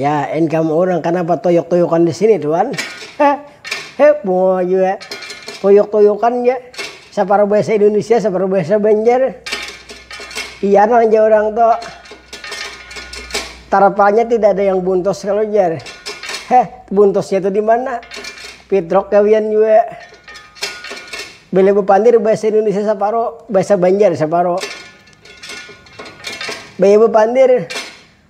Ya income urang kanapa toyok-toyokan di sini tuan. He bunga jua toyok-toyokan ja. Saparuh bahasa Indonesia, saparuh bahasa Banjar. Iya nah jar orang to. Tarpalnya tidak ada yang buntos kalau jar. He, buntosnya itu di mana? Pitrok gawian jua. Bila bepandir bahasa Indonesia saparuh, bahasa Banjar saparuh. Baya bepandir,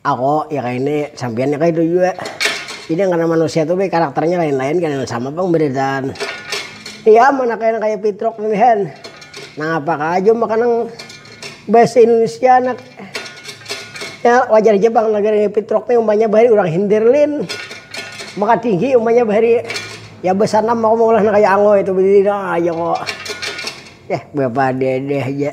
Ako, ya kaya ini, sampiyan ya kaya itu jua. Jadi nang kena manusia tu be karakternya lain-lain kada nang sama pang beritaan. Iya am anak yang kaya pitruk ini han. Nangapa ka jua maka nang bahasa indonesia anak ya wajar ja pang negeri ini pitruk nih umpanya bahari urang hindir lin. Maka tinggi umpanya bahari ya besanam aku maulah nang kaya ango itu berdiri doang aja ko. Yah bepadede haja.